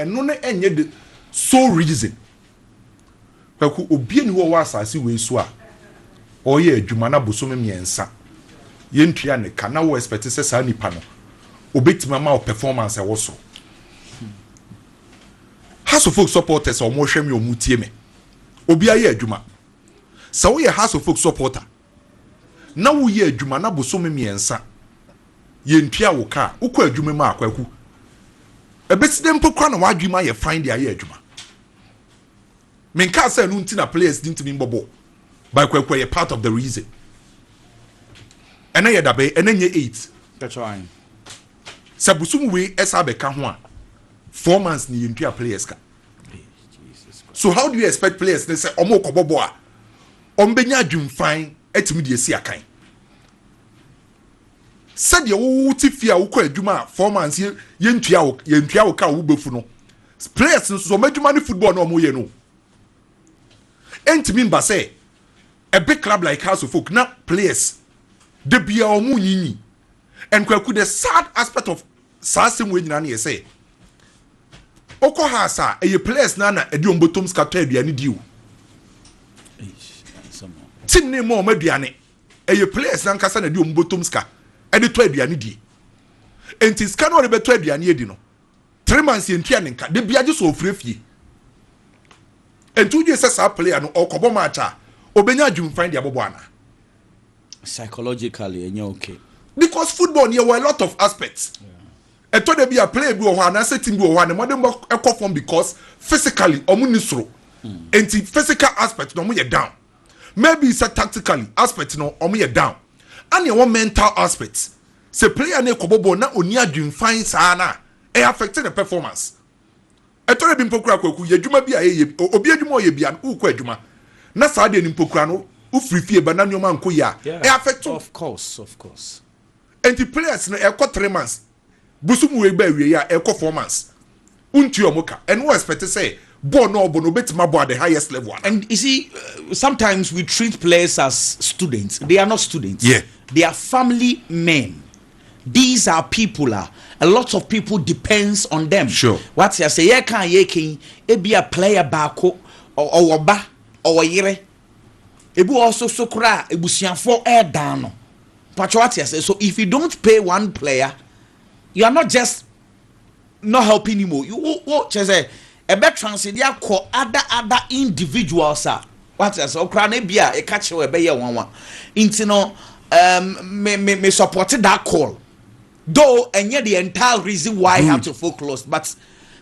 Ɛno no ɛnyɛ the sole reason. Kwaku, obi nni hɔ a ɔwɔ asase wei so a ɔreyɛ adwuma na bosome mmiɛnsa yɛntua ne ka na wo expect sɛ saa nipa no ɔbɛtumi ama wo performance a ɛwɔ soro. House of Folk supporters a wɔrehwɛ me a wɔretie me, obiara yɛ adwuma. Sɛ woyɛ House of Folk supporter, na woyɛ adwuma na bosome mmiɛnsa yɛntua wo ka a, wokɔ adwuma mu a, Kwaku, ɛbɛsi dɛn mpo koraa na w'adwene ayɛ fann de ayɛ adwuma? Menkaa sɛ ɛno nti na players no ntumi mbɔ bɔɔl, but Kwaku ɛyɛ part of the reason. Ɛnɛ yɛ da bɛn? Ɛnɛ nyɛ eight. Sɛ bosom wei ɛsa abɛka ho a, four months ne yɛntua players ka. So how do you expect players ne sɛ wɔn rekɔbɔ bɔɔl a, wɔbɛnya adwemfann atumi de asi akan. Sɛdeɛ wote fie a wokɔ adwuma a four months yɛntua wo yɛntua wo ka a wobɛfu no players no so wɔn adwuma ne football na wɔyɛ no ɛntumi mba sɛ a big club like House of Folk na players da biara wɔn nyinyi and kwaku the sad aspect of Saa asɛm wei nyinaa no yɛ sɛ wokɔ house a ɛyɛ players no na ɛde wɔn bɔtɔm sika tɔ aduane di o team no ma wɔn aduane ɛyɛ players no ankasa na ɛde wɔn bɔtɔm sika ɛde tɔ aduane die nti sika no ɔde bɛtɔ aduane adi no three months yɛn tua ne nka de bi agye so ofure fie nti wodwe sɛ saa player no ɔkɔbɔ match a obenya adwumfan de abɔbɔ ana Psychologically ɛnyɛ ok. Because football no yɛwɔ a lot of aspects. Ɛtɔ da bi a player bi wɔ hɔ anaasɛ team bi wɔ hɔ a ne mmɔdenbɔ kɔ fam because physically wɔn nni soro. Nti physical aspect no wɔn yɛ down. Maybe sɛ tactically aspect no wɔn yɛ down. Ɛna ɛwɔ mental aspect. Sɛ player no rekɔbɔ bɔɔl na ɔnni adwemfann saa no a, ɛ affect ne performance. Ɛtɔ da bi mpo koraa Kwaku, yɛ adwuma bi a yɛyɛ, obi adwuma a ɔyɛ biara no, worekɔ adwuma, na saa adeɛ no mpo koraa no, wofiri fie ba na nneɛma ankɔ yie a, ɛ affect wo. Enti players no, ɛkɔ three months, bosom wei ba awieeɛ a, ɛkɔ four months, wontua wɔn ka, ɛna wo expect sɛ bɔɔl no a ɔbɔ no, ɔbɛtumi abɔ at the highest level anaa? And you see, sometimes we treat players as students, they are not students, they are family men. These are people a a lot of people depends on them. Sure. Wate ase yɛ kan a yɛ kan ebi a player baako ɔwɔ ba ɔwɔ yere ebi wɔ so so koraa ebusuafo ɛɛdan no patro wate ase so if you don't pay one player you are not just not helping him o wo wo kyerɛ sɛ ɛbɛ transcend akɔ other other individuals a wate ase ɔkora no ebi a ɛka kyerɛ ɛbɛyɛ nwanwa nti no um, me me me support that call though ɛnyɛ the entire reason why I have to focus but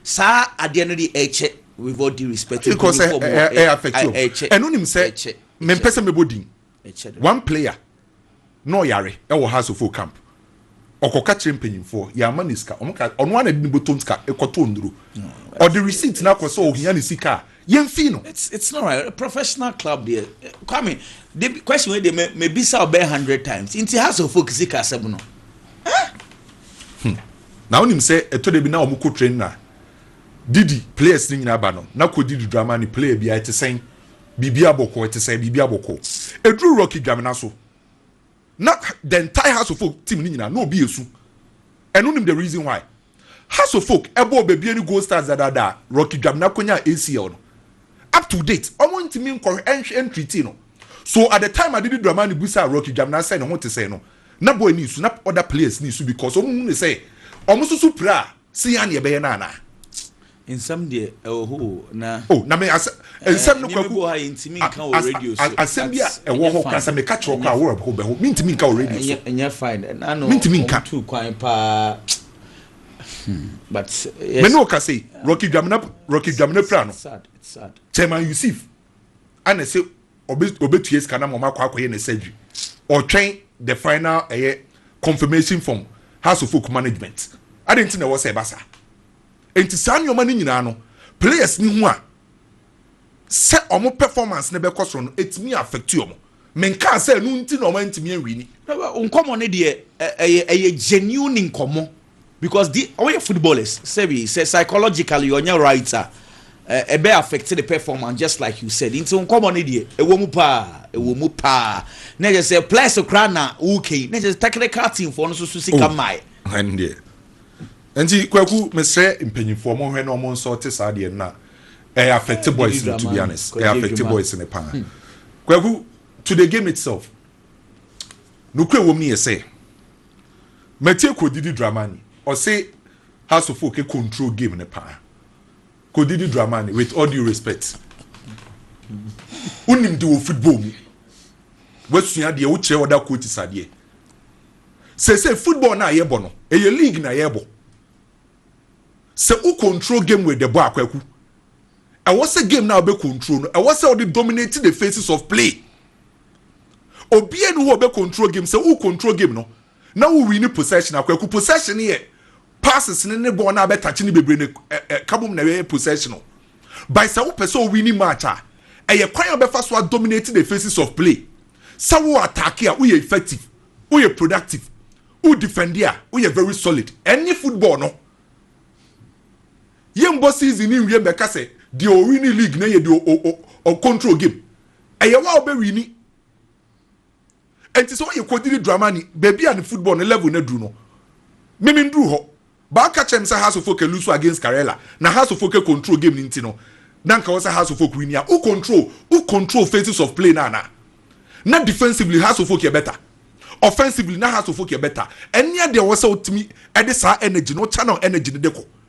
saa adeɛ no de ɛkyɛ with all due respect ɛkyɛ ɛno nim sɛ mempɛ sɛ mebɔ din One player na ɔyare wɔ Hearts of Oak camp, ɔkɔka kyerɛɛ mpanyimfoɔ, yɛamma no sika, wɔn kaa ɔno ara na ɛde ne bɔtɔ sika kɔtɔɔ nnuro, ɔde receipt no akɔ sɛ ɔhia ne sika a, yɛmfii no. It's it's not right. Professional club deɛ Kwame, de question wei deɛ me me bisa ɔbɛyɛ hundred times. Nti Hearts of Oak sika asɛm no. Hmm. Na wonim sɛ ɛtɔ da bi na wɔn kɔ train na didi players ne nyinaa ba no na kɔ didi drama ne player bi a ɛte sɛn. Biribi abɔ kɔɔ, ɛte sɛ biribi abɔ kɔɔ. Ɛduru Rocky Dwamena so, na the entire House of Folk team no nyinaa, na obi ɛsu. Ɛno nim the reason why. House of Folk ɛbɔɔ Babie ne Gold Stars dadaada a Rocky Dwamena kɔnyaa ACL no, up to date, wɔn ntumi nkɔhwɛ, ɛnhwɛ, ɛntreatii no. So at the time Adidi Dramani bisaa Rocky Dwamena sɛ ne ho te sɛn no, na boy no resu, na other players no resu because wɔn hu no sɛ wɔn nso so pira a, Se ya ne yɛbɛyɛ no anaa. Nsɛm deɛ ɛwɔ hɔ o na. Oh na me asɛ nsɛm no kwaku. Nneɛma bi wɔ hɔ a yɛntumi nka wɔ radio so. Asɛm bi a ɛwɔ hɔ koraa sɛ meka kyerɛ wo koraa a wo bɛho mentumi nka wɔ radio so. Ɛnyɛ fine ɛna ano wɔn tu kwan paa but yes. Me ne wo kasa yi Rocky Dwamena Rocky Dwamena pira no Chairman Yusuf ana se ɔbɛ ɔbɛtua sika na ma ɔmakɔ akɔyɛ ne surgery ɔtwɛn the final ɛyɛ confirmation from house of folk management adi nti na ɛwɔ sɛ ɛba saa nti saa nneɛma no nyinaa no players ni ho a sɛ ɔmo performance no bɛkɔ soro no etumi affect ɔmo menkaa sɛ ɛno nti na ɔmo ntumi anwi ni. nkɔmɔ no deɛ ɛyɛ ɛyɛ genuine nkɔmɔ. Because di ɔyɛ footballers sɛbi sɛ psychologically ɔnyɛ right a ɛbɛ affect ne performance just like you said nti nkɔmɔ ne deɛ ɛwɔ mu paa ɛwɔ mu paa na ɛkyɛ sɛ players koraa na wokɛyi na ɛkyɛ sɛ technical team foɔ no so so sika oh, mmae. Hɛn deɛ nti kwaku mesrɛ mpanyinfoɔ mo hwɛ na ɔmo nsɔ te saa deɛ na ɛyɛ affect boys no to be honest ɛyɛ affect boys no paa hmm. kwaku to the game itself nukuri ɛwɔ mu no yɛ sɛ. Matie Kodidi Dramani ɔse House of Oak control game no paa. Kodidi Dramani with all due respect wonim de wɔ football mu wasua deɛ wokyerɛ other coaches adeɛ. Sese football no a yɛbɔ no ɛyɛ league na yɛbɔ. Sɛ wo control game with the bɔ akwaku ɛwɔ sɛ game no a wobɛ control no ɛwɔ sɛ wode dominate the phases of play. Obiara ni hɔ ɔbɛ control game sɛ wo control game no na wo wini possession a kwaku possession no yɛ passes ne ne bɔɔl no a bɛtakye ne bebree no ɛka bom na ɛyɛ possession no by sɛ wopɛ sɛ owini match a ɛyɛ kwan a wobɛfa so a dominate the faces of play sɛ wo attack a woyɛ effective woyɛ productive wo defend a woyɛ very solid ɛne football no yɛmbɔ season ne nwie mbɛka sɛ deɛ owini league na yɛ deɛ ɔcontrol game Ɛyɛ wo a wobɛwini. Ɛnti sɛ woyɛ kodiri dramani, baabi a ne football ne level no aduru no, me menduru hɔ. But woka kyerɛ me sɛ Hearts of Oak lusu against Karela, na Hearts of Oak control game no nti no, na nka wɔ sɛ Hearts of Oak wini a, wo control, wo control phases of play no anaa? Na defensively Hearts of Oak yɛ better. Offensively na Hearts of Oak yɛ better. Ɛnneɛ deɛ wɔ sɛ wotumi de saa energy no, wo channel energy no de kɔ.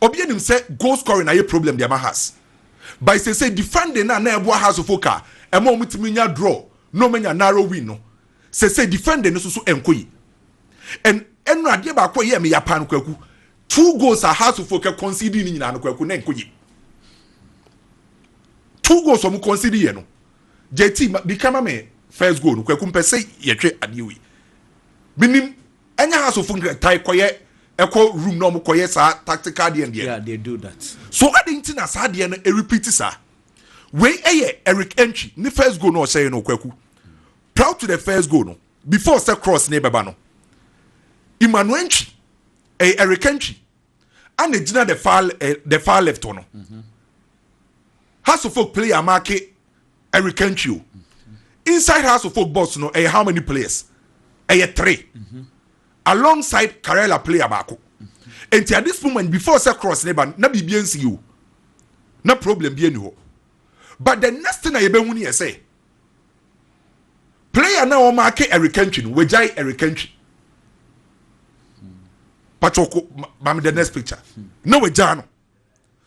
obi anim sɛ goal scoring ayɛ problem de ama has by sese defending na na ɛboa has fo ka ɛma wɔn tumi nya draw na wɔn anya narrow win no sese defending no soso ɛnko yi ɛn ɛnu adeɛ baako yɛ ɛmi yapa no kwaku two goals a has fo kɛ concede ne nyinaa no kwaku na ɛnko yi two goals wɔn concede yɛ no jt bi kama mi first goal no kwaku mpɛ sɛ yɛtwe adeɛ wei binim Ɛnyɛ house of nkran tae kɔyɛ ɛkɔ room na wɔn kɔyɛ saa tactical adeɛ ndeɛ. Yeah, they do that. So adi nti na saa adeɛ no repeat saa. Wei ɛyɛ Eric Entry ne first goal no ɔhyɛ yɛ no Kwaku. Prior to the first goal no, before sɛ cross no ɛbɛba no, Emmanuel Entry, ɛyɛ Eric Entry. a na egyina the far eh, the far left hɔ no house of folk player amaake eric kantwi o inside house of folk box no ɛyɛ how many players ɛyɛ three alongside karela player baako nti at this moment before sɛ cross ne ba na biribi nsi o na problem bi ni hɔ but the next thing a yɛbɛhu ni yɛ sɛ. Player na wɔn ake Eric Kentwi no wagyae Eric Kentwi patwoko maame the next picture na wagyae no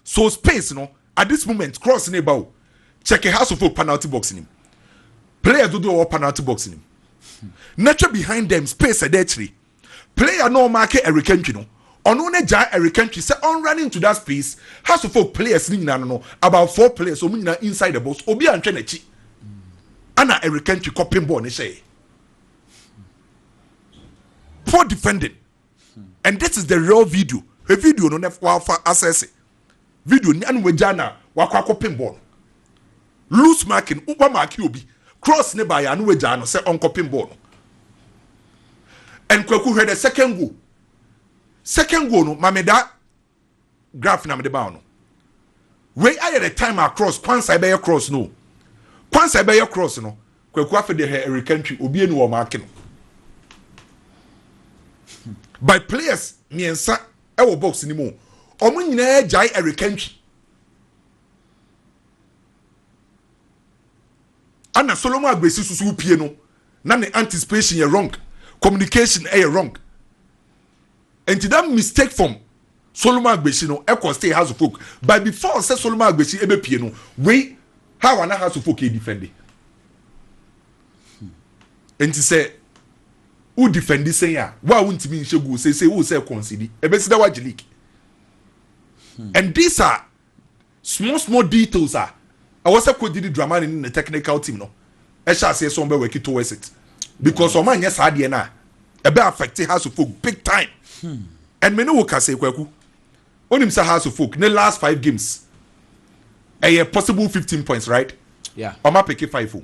so space no at this moment cross ne ba o check a house of hope penalty box nim players dodoɔ wɔ penalty box nim na twɛ behind them space ɛda akyire. Player na ɔmaake Eric Antwi no, ɔno na gyaa Eric Antwi sɛ ɔnrun into that space, Hearts of Oak players no nyinaa no no, about four players, wɔn nyinaa inside the box, obiara nhwɛ n'akyi, ɛna Eric Antwi kɔpem bɔɔl no hyɛe. Poor defending. And this is the real video. Hwɛ video no na wafa asɛse. video no ano wagyaa no a wakɔ akɔpem bɔɔl no. Loose marking, wamaake obi, cross no baeɛ a ano wagyaa no sɛ ɔnkɔpem bɔɔl no. And Kwaku hwɛ the second goal. Second goal no, ma me da graph na mede baa no. Wei ayɛ the time a cross, Kwansa ɛbɛyɛ cross no. Kwansa ɛbɛyɛ cross no, Kwaku afei de hɛ ɛreka ntwi, obi ani wɔ maake no. By players mmiɛnsa ɛwɔ box no mu ɔmo nyinaa gyae ɛreka ntwi ana solomon agbesi susu pie no na ne anticipation yɛ wrong communication ɛyɛ eh, wrong nti that mistake from solomon agbesi no ɛkɔ stay house of folk but before sɛ solomon agbesi ɛbɛ pie no wei how ana house of folk yɛ defend Enti sɛ wo defendi sɛn a wo a wo ntimi nhyɛ goal seesei wo sɛ kɔnsidi ɛbɛsi dɛ wagye league hmm. and these are small small details a ɛwɔ sɛ kɔdidi dramani ne ne technical team no ɛhyɛ aseɛ sɛ wɔn bɛ work towards it because wɔn anyɛ saa adeɛ no a ɛbɛ affect house of folk big time hmm. and me ne wo kasa kwaku onim sɛ house of folk ne last five games ɛyɛ possible fifteen points right yeah. wɔn apeke five o. Oh.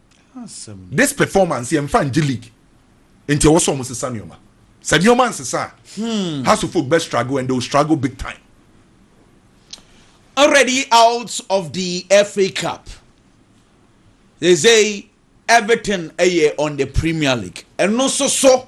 this performance yɛn fa ngye league nti ɛwɔ sɛ wɔn sesa nneɛma sɛ nneɛma nsesa a hmm. house of folk bɛ struggle and they will struggle big time. already out of the FA Cup. They say everything ɛyɛ on the Premier League. And no so so.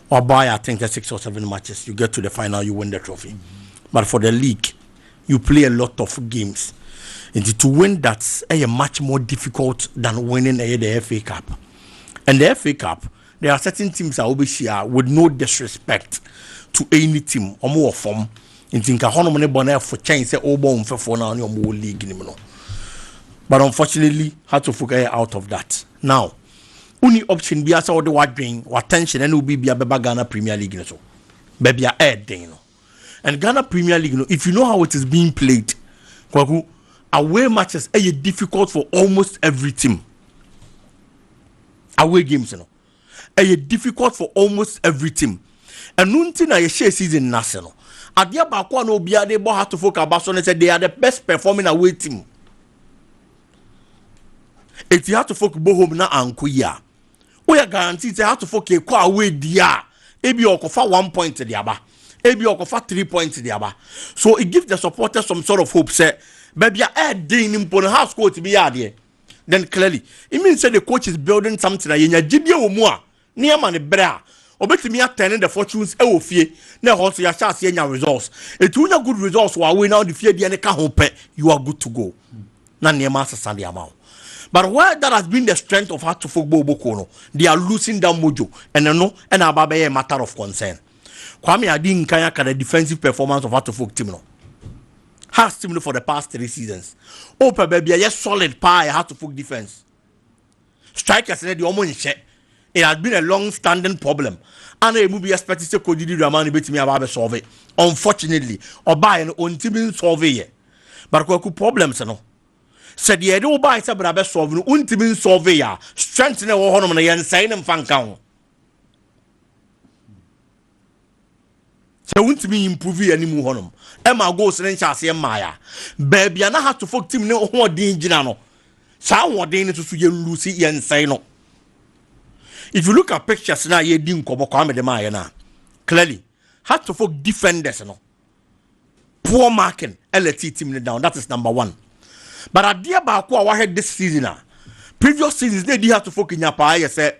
Ɔbaeɛ I think sɛ six or seven matches you get to the final you win the trophy but for the league you play a lot of games nti to win that ɛyɛ much more difficult than winning ɛyɛ the FA Cup and the FA Cup there are certain teams a wobɛhyia with no disrespect to any team wɔn wɔ fam nti nka hɔnom ne bɔ no ɛfo kyɛn sɛ ɔrebɔ wɔn mfɛfoɔ na wɔn wɔ league nim no but unfortunately Hearts of Oak ɛyɛ out of that now Wonni option biara sɛ wode w'adwen, w'attention ɛne wo biribiara bɛba Ghana Premier League no so. Baabi a ɛyɛ den no. And Ghana Premier League no, if you know how it is being played, Kwaku, away matches ɛyɛ difficult for almost every team. Away games no ɛyɛ difficult for almost every team. Ɛno nti na yɛhyɛ season no ase no. Adeɛ baako a na obiara de bɔ Hearts of Oak aba so ne sɛ they are the best performing away team. eti hatofo bɔ home na anko yi a woyɛ guarantee sɛ hatofo kɔ a woadi a ebi ɔkɔfa one point de aba ebi ɔkɔfa three points de aba so it gives the supporter some sort of hope sɛ baabi a ɛɛden no mpo no house court bi yɛ adeɛ then clearly it means sɛ the coach is building something a yɛnya gyidie wɔ mu a ne ama no bere a obetumi attend the fortunes wɔ fie na ɛhɔ nso yɛahyɛ aseɛ nya results eti wonya good results wɔ awoe na wode fie deɛ no ka ho pɛ you are good to go na nneɛma asesa de ama wo but where that has been the strength of atofo gbogboko no they are losing that mojo and ɛno ɛna aba bɛyɛ matter of concern Kwame Adi Nkan aka the defensive performance of atofo team no has team no for the past three seasons wopɛ baabi a ɛyɛ solid paa yɛ atofo defense Strikers no deɛ wɔn nhyɛ. It has been a long standing problem. Ana emu bi expect sɛ Coach Didier Amani betumi aba abɛsolve. Unfortunately, ɔbaeɛ no ɔntumi nsolve yɛ. But kwaku problems no sɛ deɛ yɛde wo baeɛ sɛ bra bɛsolve no wontumi nsolve yɛ a strength na ɛwɔ hɔnom no yɛnsɛe no mfa nka ho. sɛ wontumi improve yɛn mu hɔnom ɛma goals ne nhyɛ aseɛ mmaeɛ a baabi a na heart to folk team ne hoɔden gyina no saa hoɔden no soso yɛn lusi yɛn nsɛe no if you look at pictures na yɛdi nkɔmɔ kwame de maayɛ no a clearly heart to folk defenders no poor marking ɛna tii team no down that is number one but adeɛ baako a wahwɛ this season a previous seasons na edi hatofo kenya paa yɛ sɛ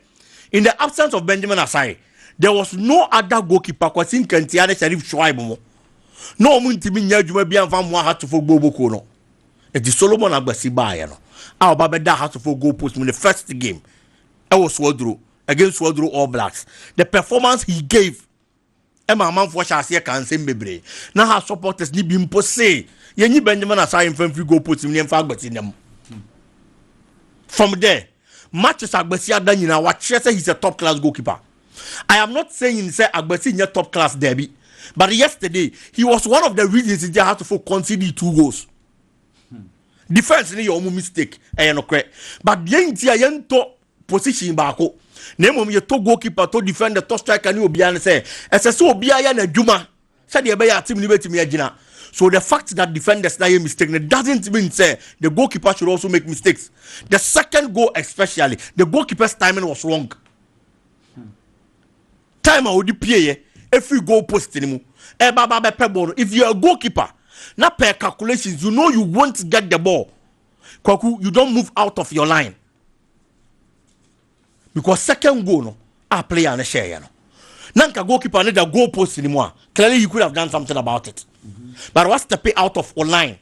in the absence of benjamin asai there was no other goalkeeper kwasi nkantia ne sharif shuaib mo na wɔn ntumi nyɛ adwuma bi anfa mmoa hatofo gboboko no eti solomon agbasi baayɛ no a ɔba bɛda hatofo goal post mu ne first game ɛwɔ suaduro against suaduro all blacks the performance he gave ɛma amanfoɔ hyɛ aseɛ ka nsɛm bebree na ha supporters ne bi mpo se yɛnyi benjamin asaa yɛmfa mfiri goal post mu ne yɛmfa agbasi nam from there matches agbasi ada nyinaa wakyerɛ sɛ he's a top class goalkeeper i am not saying sɛ agbasi nyɛ top class daabi but yesterday he was one of the reasons nti hasofo conceded two goals defense ne yɛ ɔmo mistake ɛyɛ nokorɛ but deɛ nti a yɛntɔ position baako na mmom yɛtɔ goalkeeper tɔ defender tɔ striker ne obiara ne sɛ ɛsɛ sɛ obiara yɛ n'adwuma sɛdeɛ ɛbɛyɛ a team no bɛtumi agyina so the fact that defenders na yɛ mistake no doesn't mean sɛ the goalkeeper should also make mistakes the second goal especially the goalkeeper's timing was wrong time a ɔde pieeɛ ɛfiri goal post no mu ɛba ba bɛpɛ bɔɔl no if you are a goalkeeper na per calculations you know you won't get the ball kwaku you don't move out of your line because second goal no a player no hyɛɛyɛ no na nka goalkeeper no da goal post no mu a clearly he could have done something about it but wa step out of line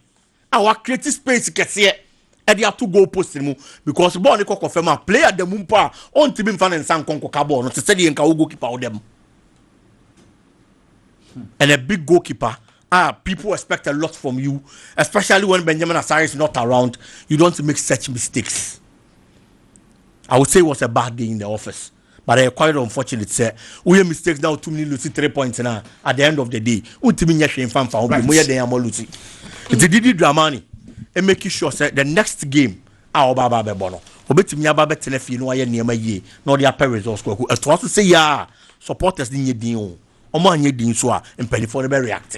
a wa create space kɛseɛ ɛde ato goal post no mu because bɔɔl no kɔkɔ fam a player da mu mpo a ɔntumi nfa ne nsa nkɔ nkɔka bɔɔl no te sɛ deɛ nka wo goalkeeper wo da mu and a big goalkeeper Ah people expect a lot from you especially when Benjamin Asare is not around you don't make such mistakes I would say it was a bad day in the office but ɛyɛ quite unfortunate sɛ woyɛ mistakes na wotum ne lusi three points na at the end of the day wontumi nyɛ hwee mfa mfa ho bi moyɛ dɛn ama lusi nti didi dramani and make sure sɛ the next game a ɔba aba abɛbɔ no obetumi aba abɛtena fie na wayɛ nneɛma yie na ɔde apɛ results kwaku ɛtoa so sɛ yia supporters ne nyɛ din o Ɔmo anyɛ din nso a mpaninfoɔ no bɛ react.